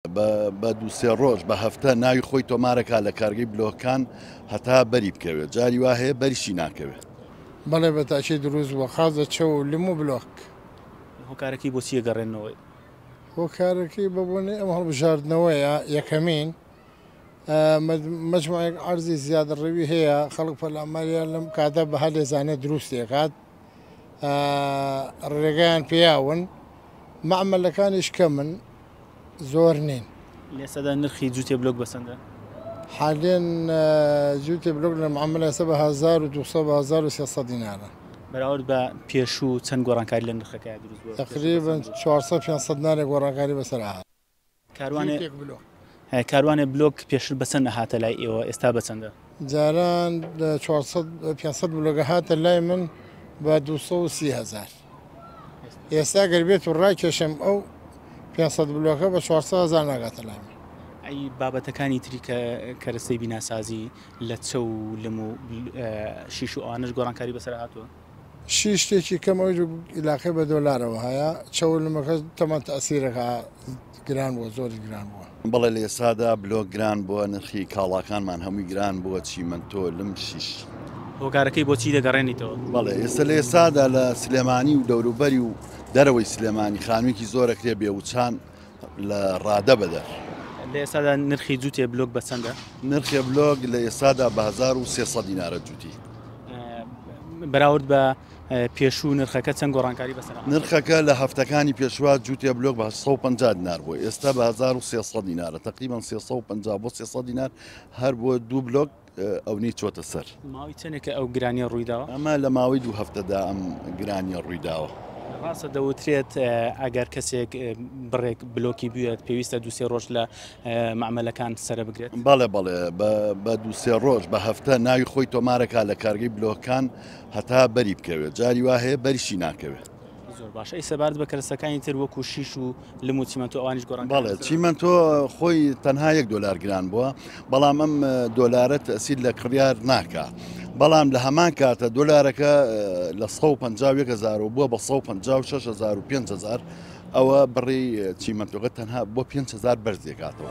بە دوو سێ ڕۆژ بە هەفتە ناوی خۆی تۆمارەکە لە کارگەی بلۆکان هەتا بەری بکەوێت جاری وا هەیە بەریشی ناکەوێت بەڵێ بە تاچی دروست بووە قازە چە و لم و بلۆک هۆکارەکەی بۆچیە گەڕێنەوەی هۆکارەکەی بە بۆنی ئەم هەڵبژاردنەوەیە یەکەمین مجموعێک عرضی زیاد ڕوی هەیە خەڵک پەلاماریان لەم کاتە بەها لێزانە دروستێکات ڕێگەیان پیاون مەعمەلەکانیش کەمن زۆر نین لێسەدا نرخی جوتێ بلوک بەسەندە حالێن جوتێ بلوک لە معاملە سە بە 1970 دینارە بەراورد بە پێشوو چەند گۆڕانکاری لە نرخەکە دروست تقریبن 400 500 نارێک گۆڕانکاری بەسەر کاروانێ بلۆک پێشتر بەچەند ئەهاتە لای ئێوە ئێستا بەچەندە؟ جاران لە 500 بلۆگە هاتە لای من بە 230 هزار ئێستا گەر بێت و ڕاکێشم ئەو 500 بلۆکە بە 400 هزار ناگاتە لای من ئەی بابەتەکانی تری کە کەرەسەی بیناسازی لە چە و لم و شیش و ئەوانش گۆڕانکاری بەسەر هاتووە شی شتێکی کەم ئەو ئیلاقەی بە دۆلارەوە هەیە چەولمەکە تەمان تەسیرەکە گران بووە زۆری گران بووە بەڵێ لە ئێسادا بلۆک گران بووە نرخی کاڵاکانمان هەمووی گران بووە چیمەندۆ لم شیش هۆکارەکەی بۆچی دەگەڕێنیتەوە بەڵێ ئێستا لە ئێسادا لە سلێمانی و دەوروبەری و دەرەوەی سلێمانی خانوویەکی زۆرەکرێ بێ وچان لە ڕادە بەدەر. لە ئێستادا نرخی جووتێ بلۆک بە چەندە؟ نرخێ بلۆک لە ئێستادا بە 1300 دینارە جووتی. بەراورد بە پێشوو نرخەکە چەند گۆڕانکاری بەسەر نرخەکە لە هەفتەکانی پێشوە جووتێ بلۆک بە 150 دینار بۆ ئێستا بە 1300 دینارە تقریبان 350 بۆ 300 دینار هەر بۆ دوو بلۆک ئەونەی چۆتە سەر ماوەی چەندێکە ئەو گرانیە ڕوویداوە ئەمە لە ماوەی دوو هەفتەدا ئەم گرانیە ڕوویداوە ڕاستە دەوترێت ئەگەر کەسێک بڕێک بلۆکی بوێت پێویستە دوسێ ڕۆژ لە معملەکان سرە بگرێت بەڵێ بەڵێ بە دوسێ ڕۆژ بە هەفتە ناوی خۆی تۆمارەکە لە کارگەی بلۆکان هەتا بەری بکەوێت جاری وا هەیە بەریشی ناکەوێت زۆر باش ئەی سەبارەت بە کەرەستەکانی تر وەکو شیش و لم و چیمەنتۆ ئەوانیش گۆڕان بەڵێ چیمەنتۆ خۆی تەنها یەک دۆلار گران بووە بەڵام ئەم دۆلارە تەسیل لە کڕیار ناکە بەڵام لە هەمان کاتە دۆلارەکە لە 150هزار و بووە بە 1565هزار ئەوە بڕی چیمەنتۆگە تەنها بۆ 5هزار بەرز دێکاتەوە.